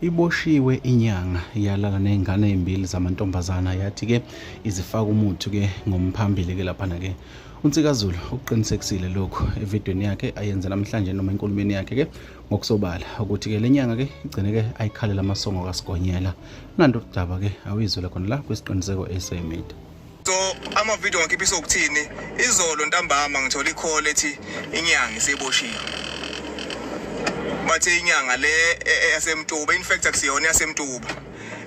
iboshiwe inyanga yalala nezingane ezimbili zamantombazana yathi ke izifaka umuthi ke ngomphambili ke laphana ke uNsikazulu ukuqinisekisile lokhu evidweni yakhe ayenze namhlanje noma enkulumeni yakhe ke ngokusobala ukuthi ke lenyanga ke igcine ke ayikhalela amasongo kaSigonyela nanto udaba ke awizwele khona la kwisiqiniseko esemedia so ama video ngakhe ibiso ukuthini izolo ntambama ngithola icall ethi inyanga iseboshiwe bathe inyanga le e, e, yasemtuba in fact akusiyona yasemtuba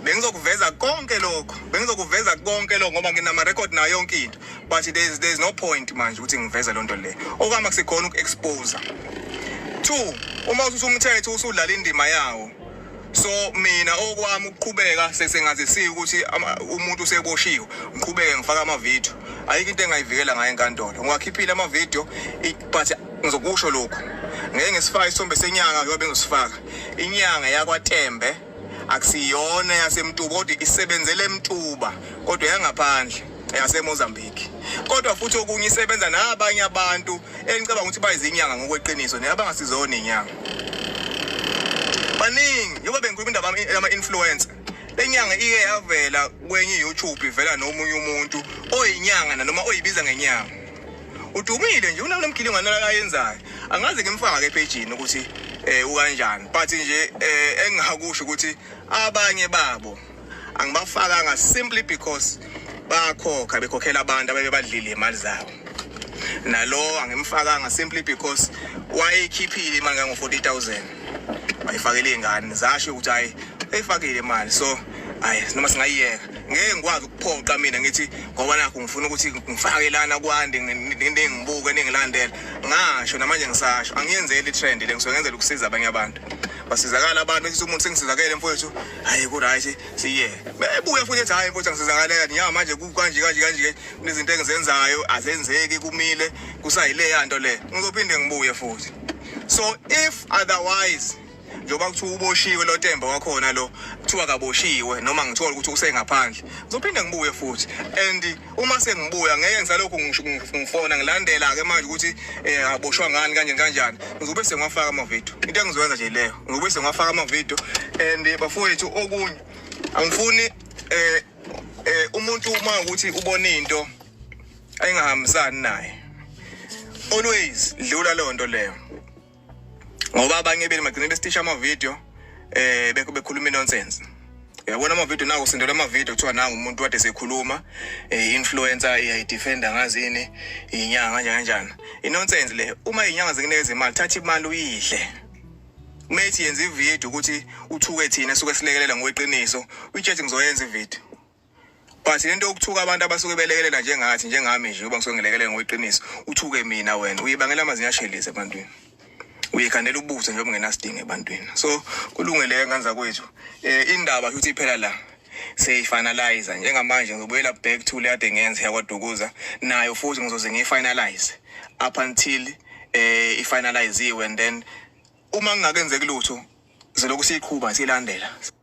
bengizokuveza konke lokho bengizokuveza konke lokho ngoba nginama record nayo yonke into but there's there's no point manje ukuthi ngiveze lonto le okama kusekhona ukuexpose two uma usumthetho usudlala indima yawo so mina okwami ukuqhubeka sesengazisiya ukuthi umuntu useboshiwe ngiqhubeke ngifaka amavidiyo ayikho into engayivikela ngayo enkantolo ngiwakhiphile amavidiyo but ngizokusho lokhu ngeke ngisifaka isithombe senyanga yobe ngisifaka inyanga yakwatembe akusiyona yasemtuba kodwa isebenzele emtuba kodwa yangaphandle yasemozambique kodwa futhi okunye isebenza nabanye abantu enicabanga ukuthi bayizinyanga ngokweqiniso ne abangasizona inyanga baningi yoba bengikhuluma indaba yama-influencer le nyanga ike yavela kwenye i-youtube ivela nomunye umuntu oyinyanga nanoma oyibiza ngenyanga udumile nje unalo mgilingwane lakayenzayo angazi ngimfaka ke phejini ukuthi eh ukanjani but nje eh engingakusho ukuthi abanye babo angibafakanga simply because bayakhokha bekhokhela abantu abebebadlile imali zabo nalowo angimfakanga simply because wayeyikhiphile imali kango-40000 wayifakele iy'ngane zasho ukuthi hhayi eyifakile imali so hayi noma singayiyeka ngeke ngikwazi ukuphoqa mina ngithi ngoba nakho ngifuna ukuthi ngifake lana kwande ningibuke ningilandela ngasho namanje ngisasho angiyenzeli i-trend le ngisuke ngenzela ukusiza abanye abantu basizakala abantu ukuthi umuntu sengisizakele mfowethu hayi kuright siye bebuye futhi ethi hayi mfowethu angisizakaleyo niya manje kanje kanje kanje kunezinto engizenzayo azenzeki kumile kusayileya nto le ngizophinde ngibuye futhi so if otherwise njengoba kuthiwa uboshiwe lo temba wakhona lo kuthiwa kaboshiwe noma ngithola ukuthi usengaphandle ngizophinde ngibuye futhi and uma sengibuya ngeke ngisalokhu ngifona ngilandela-ke manje ukuthi um aboshwa ngani kanjani kanjani ngizobe sengiwafaka amavidiyo into engizoyenza nje leyo ngizobe sengiwafaka amavidiyo and eh, bafowethu okunye angifuni um um umuntu uma ukuthi ubone into ayingahambisani naye always dlula leyo nto leyo ngoba abanye beli magcine bestisha ama video eh bekhuluma nonsense yabona ama video nawo sindela ama video kuthiwa nangu umuntu wade sekhuluma eh influencer iya defender ngazini inyanga nje kanjani inonsense le uma inyanga zikunekeza imali thatha imali uyidle methi yenza ivideo ukuthi uthuke thina suke silekelela ngokweqiniso utshethi ngizoyenza ivideo but lento yokuthuka abantu abasuke belekelela njengathi njengami nje uba ngisuke ngilekelela ngokweqiniso uthuke mina wena uyibangela amazinyo ashelise ebantwini uyekhandela ubuso njengoba ungenasidingo ebantwini so kulungele ngane zakwethu um indaba futhi iphela la seyifinalize njengamanje ngizobuyela back to le ade ngenze yakwadukuza nayo futhi ngizoze ngiyifinalize up until um eh, ifinaliziwe and then uma ngingakenzeki lutho zilokhu siyiqhuba siyilandela